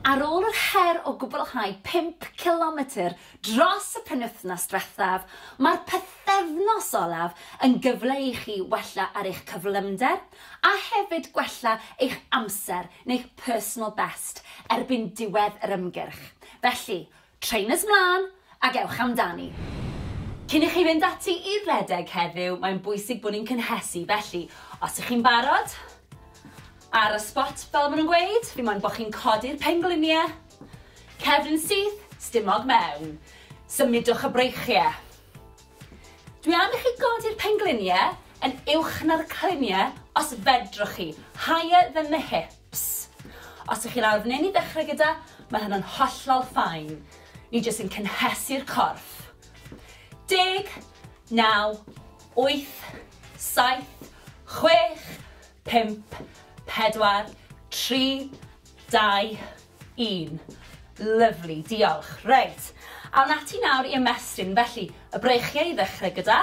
Ar ôl yr her o gwblhau pump cilometr dros y penwythnos diwethaf, mae'r pythefnos olaf yn gyfle i chi wella ar eich cyflymder a hefyd gwella eich amser neu'ch personal best erbyn diwedd yr ymgyrch, felly Trainers 'mlân ac ewch amdani! Cyn i chi fynd ati i redeg heddiw, mae'n bwysig bod ni'n cynhesu, felly os ych chi'n barod, ar y sbot fel ma' nhw'n gweud, dim ond bod chi'n codi'r penglinie, cefn yn syth, stumog mewn, symudwch y breichie. Dwi am i chi godi'r penglinie yn uwch na'r clinie os fedrwch chi, higher than the hips. Ps. Os ych chi'n awr neu'n i ddechrau gyda, mae hynna'n hollol fine. Ni jyst yn cynhesu'r corff. Deg, naw, wyth, saith, chwech, pump, pedwar, tri, dau, un. Lyfli, diolch. Reit, awn ati nawr i ymestyn. Felly, y breichiau i ddechrau gyda.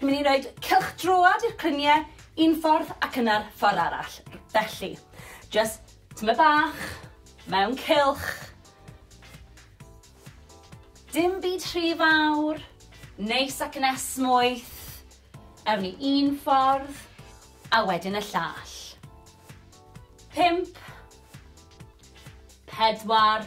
Ni'n mynd i roed cylchdroad i'r clunie un ffordd ac yna'r ffordd arall. Felly, jyst tymed bach, mewn cylch. Dim byd rhy fawr, neis ac yn esmwyth. Ewn ni un ffordd, a wedyn y llall. Pump. Pedwar.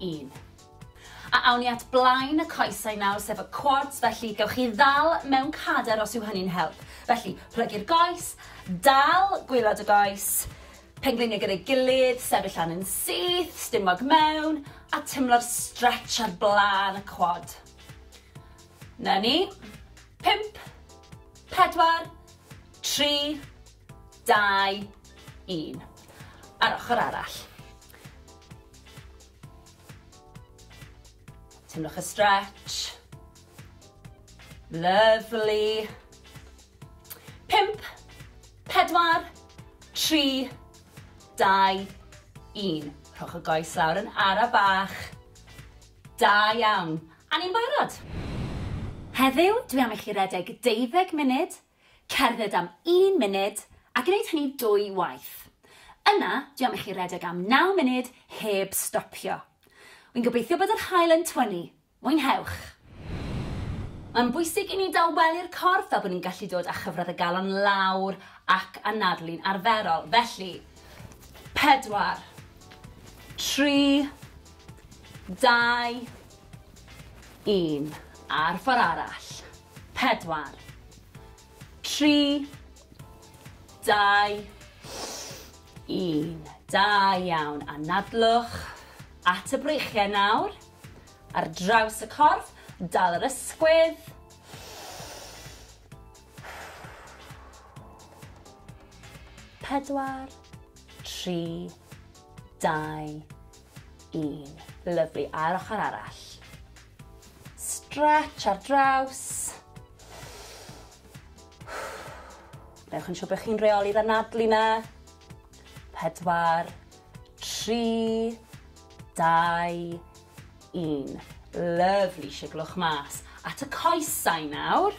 un. A awn ni at blaen y coesau nawr, sef y quads, felly gewch chi ddal mewn cader os yw hynny'n help. Felly, plygu'r goes, dal gwylod y goes, pengliniau gyda'i gilydd, sefyll lan yn syth, stumog mewn, a tymlo'r stretch ar blaen y quad. Na ni. Pimp, pedwar, tri, dau, un. A'r ochr arall. Teimlwch y stretch. Lovely. Pimp, pedwar, tri, dau, un. Rhowch y goes lawr yn ara bach. Da iawn. A ni'n barod. Heddiw, dwi am i chi redeg deuddeg munud Cerdded am un munud a gwneud hynny dwy waith. Yna, dwi am i chi redeg am naw munud heb stopio. Wi'n gobeithio bod yr haul yn twyni. Mwynhewch! Mae'n bwysig i ni dawelu'r corff fel bod ni'n gallu dod â chyfradd y galon lawr ac anadlu'n arferol. Felly, pedwar, tri, dau, un, a'r ffordd arall. Pedwar. Tri. Dau. Un. Da iawn. Anadlwch at y breichiau nawr. Ar draws y corff, dal yr ysgwydd. Pedwar. Tri. Dau. Un. Lyflu. A'r ochr arall. Stretch ar draws. Newch yn siŵr bod chi'n reoli'r anadlu na. Pedwar, tri, dau, un. Lyfli, siglwch mas. At y coesau nawr.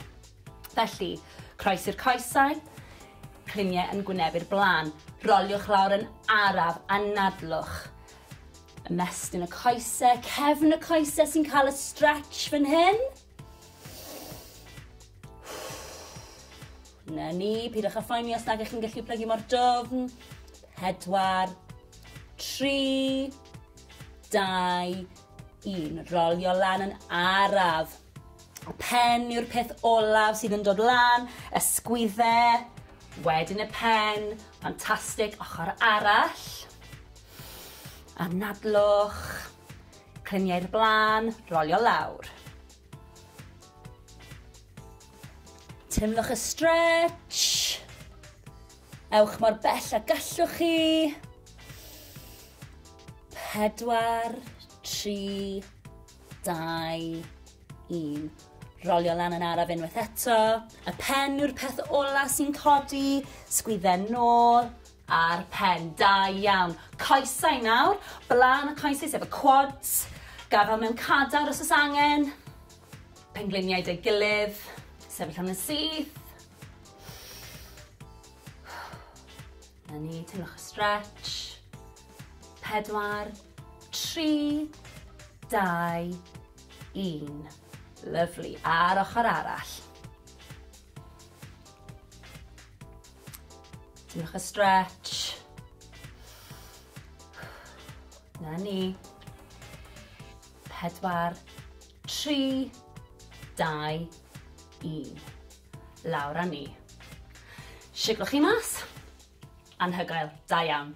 Felly, croes i'r coesau, cliniau yn gwyneb i'r blaen. Roliwch lawr yn araf, anadlwch. Ymestyn y coese, cefn y coese sy'n cael y stretch fan hyn. Na ni, pidwch â phoeni os nag ych chi'n gallu plygu mor dofn. Pedwar, tri, dau, un. Rolio lan yn araf. Y pen yw'r peth olaf sydd yn dod lan, y sgwydde, wedyn y pen, ffantastig, ochr arall. Anadlwch, clymu i'r blaen, rolio lawr. Teimlwch y stretch. Ewch mor bell a gallwch chi. Pedwar, tri, dau, un. Rolio lan yn araf unwaith eto. Y pen yw'r peth ola sy'n codi. Sgwydden nôl, Ar pen, da iawn. Coesau nawr, blaen y coesau sef y quads, gafael mewn cadar os oes angen, pengliniau deu gilydd, sefyll yn y syth. Na ni, teimlwch y stretch. Pedwar, tri, dau, un. Lyflu, a'r ochr arall. Diolch y stretch. Na ni. Pedwar, tri, dau, un. Lawr â ni. Siglwch chi mas. Anhygoel, da iawn.